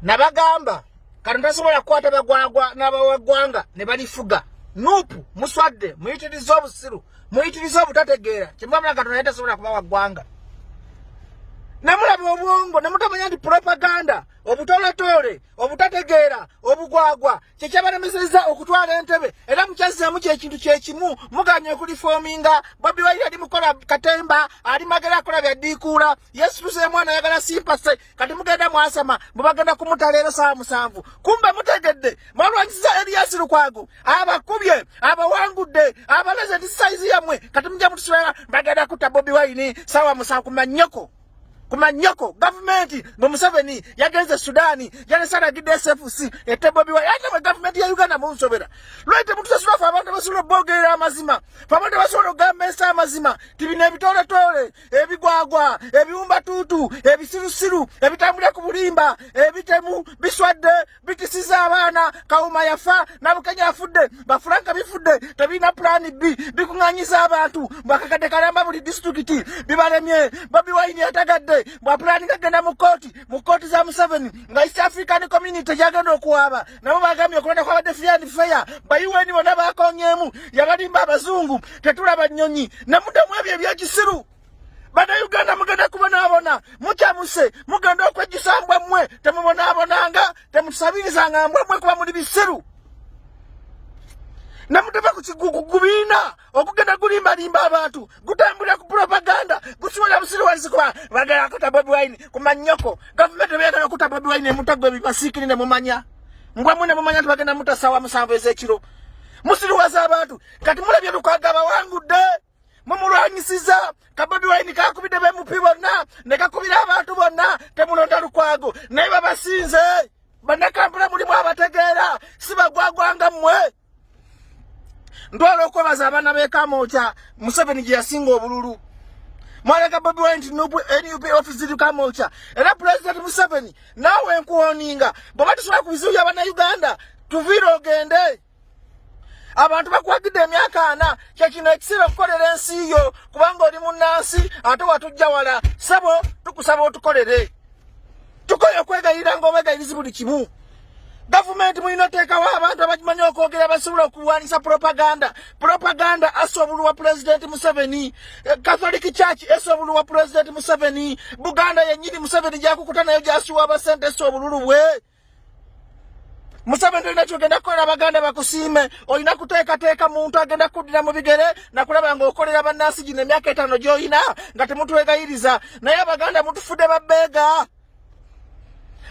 nabagamba kati tasobola kukwata bagwagwa n'abawagwanga ne balifuga nupu muswadde muyitiriza obusiru muyitiriza obutategeera kyemubamula katonda naye tasobola kuba wagwanga nemulaba obwongo nemutamanya nti propaganda obutoletoole obutategeera obugwagwa kyekyabalemeseza okutwala entebe era mukyazzeemu kyekintu kyekimu muganye okulifoominga bobi wairi ali mukola katemba ali magera akola byaddiikuula yesu tuseemwana ayagala simpase kati mugenda mwasama mubagenda kumuta leero saa musanvu kumbe mutegedde mwalwanyisiza eliyasi lukwago abakubye abawangudde abalaze nti saizi yamwe kati mujja mutusibera bagenda kutta bobi wayini saawa musanvu kumanyoko kumanyoko gavumenti mwe museveni yagenze sudaani yalesalagidde sfc ete bobi wayini ate mwe gavumenti ya uganda munsobera lwai temutusasula fe abantu basobola obogerera amazima fe abantu basobola okugamba ensi amazima tibino ebitooletoole ebigwagwa ebiwumbatuutu ebisirusiru ebitambulira ku bulimba ebitemu biswadde bitisiza abaana kawuma yafa nabukenya afudde bafulanka bifudde tebirina pulaani bbi bikuŋanyiza abantu bwakakadde kalamba buli disitulikiti bibalemye bobi wayini yatagadde bwapulaani gagenda mu kooti mu kooti za museveni nga east african community gyagenda okuwaaba nabo bagambye okulonda kwabadde fian feya bayiweni bona bakonyemu yabalimba abazungu tetulaba nyonyi namudamu ebyo ebyekisiru banauganda mugenda kubonabona mukyamuse mugenda okwejjusa mbwa mmwe temubonabonanga temutusabirizanga mbwa mmwe kuba muli bisiru namutava ku kigugubiina okugenda kulimbalimba abantu gutambulira ku propaganda gusiwala busiriwazi kuba bagala kuta bobi wine ku manyoko gavumenti ebeyagala kuta bobi wine emutagwe bibasiikiri ne mumanya mbwa mwe ne mumanya nti bagenda muta sawa musanvu ez'ekiro musiriwaza abantu kati mulabye lukwaga bawangudde mumulwanyisiza kabobi wine kakubidde bemupi bonna ne kakubira abantu bonna temulonda lukwago naye babasinze banakampula mulimu abategeera sibagwagwanga mmwe ntwala okwebaza abaana b'ekamwokya museveni gye yasinga obululu mwalaga bobi wine nti nup office ziri kamwokya era pulezidenti museveni naawe nkuwoninga bweoba tusobola ku bizibu bya bannayuganda tuviire ogende abantu bakwagidde emyaka ana kyekino ekiseera okukolera ensi yo kubanga oli munnansi ate watujja wala sabo tukusaba otukolere tukoye okwegayirira ngaobegayirizi buli kimu gavumenti mulina oteekawo abantu abakimanyi okwogera abasobola okulwanisa propaganda propaganda asa obulu wa pulezidenti museveni eh, catholic church esa obulu wa pulezidenti museveni buganda yenyini museveni gyakukuta nayo gyasiwa abasente esa obululu bwe museveni tolina kyogenda kukolera abaganda bakusiime olina kuteekateeka muntu agenda kuddira mu bigere nakulaba nga okolera bannansi gino emyaka etaano gyolina nga temutwegayiriza naye abaganda mutufudde babbeega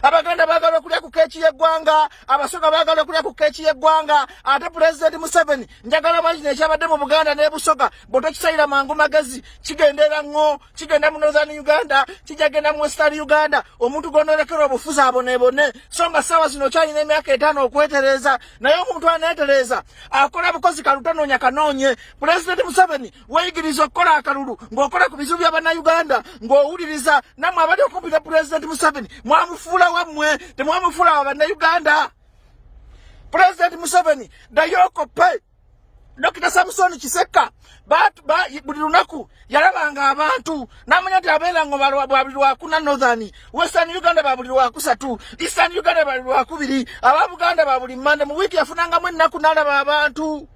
abaganda bagala okulya ku keeki y'eggwanga abasoga bagala okulya ku keeki y'eggwanga ate pulezidenti museveni njagala manyi kino ekyabadde mu buganda ne busoga bwe tokisalira mangu magezi kigenda era ŋŋo kigenda mu northern uganda kijja genda mu western uganda omuntu gw'onoolekera obufuzi aboneebone so nga ssaawa zino okyalina emyaka etaano okwetereeza naye omuntu aneetereeza akola bukozi kalutonoonya kanoonye pulezidenti museveni weyigiriza okukola akalulu ng'okola ku bizibu bya bannayuganda ng'owuliriza nammwe abali okumpi ne pulezidenti museveni mwamufuula wammwe temwamufuula wa bannayuganda pulezidenti museveni dayoko pe dokita samusoni kisekka buli lunaku yalabanga abantu namanya nti abeera ngo babuli lwakuna northern western uganda babuli lwakusatu eastern uganda babuli lwakubiri aba buganda babuli mande mu wiiki yafunangamu ennaku nalaba abantu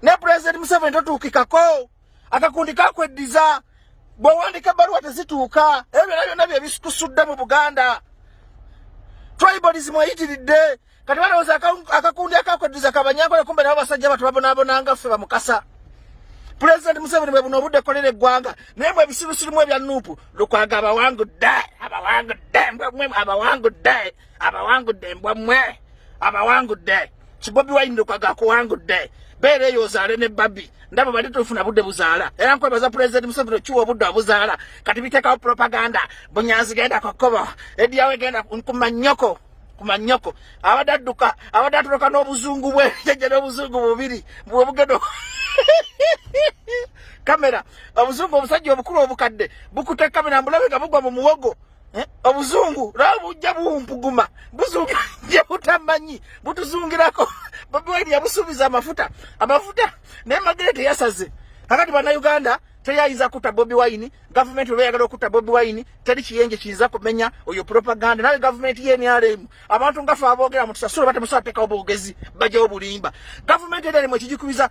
ne pulezidenti museveni totuukikako akakundi kakweddiza bwewandika ebbaluwa tezituuka ebyo byona byonna byebikusudde mu buganda tribalism eyitiridde kati balowooza akakundi akakweddiza kabanyankole kumbe nabo basajja batu babonabonanga ffe bamukasa pulezidenti museveni bwe buno obudde kolera eggwanga naye mwe ebisirusirimu ebya nuupu lukwaga abawangudde abawangudde mbwemwe abawangudde abawangudde mbwemwe abawangudde kibobi wine lukaga kuwangudde beera eyo ozaale ne babi ndabo bali tufuna budde buzaala era nkwebaza pulezidenti museveni okiwa obudde obuzaala kati biteekawo propaganda bunyanzi genda kukubo ediyawe genda kumanyoko kumanyoko abadde adduka abadde atoloka n'obuzungu bwe jajja n'obuzungu bubiri bwobugendo kamera obuzungu obusajja obukulu obukadde bukutte kamera mbulabe nga bugwa mu muwogo Eh, obuzungu laba bujja buwumpuguma buzunga gye butamanyi butuzungirako bobi wine yabusuubiza amafuta amafuta naye magere teyasaze kakati bannayuganda teyayinza kutta bobi wine gavumenti oba eyagala okutta bobi wine teri kiyenje kiyinza kumenya oyo propaganda nawe gavumenti yenrm abantu ngafe aboogera mutusasula batemusateekawo bwogezi bajawo bulimba gavumenti eri alimu ekigikubiza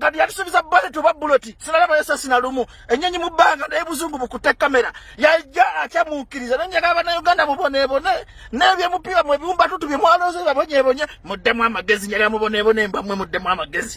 kati yatusubiza bullet oba bullet sinalaba yesa sina lumu enyenyi mu banga naye buzungu bukute kamera yaja akyamukiriza nanye kaba na Uganda mubone bone nebye mupiwa mwe biumba tutu bye mwaloze babonye bonye mudde mu amagezi nyala mubone bone mbamwe mudde mu amagezi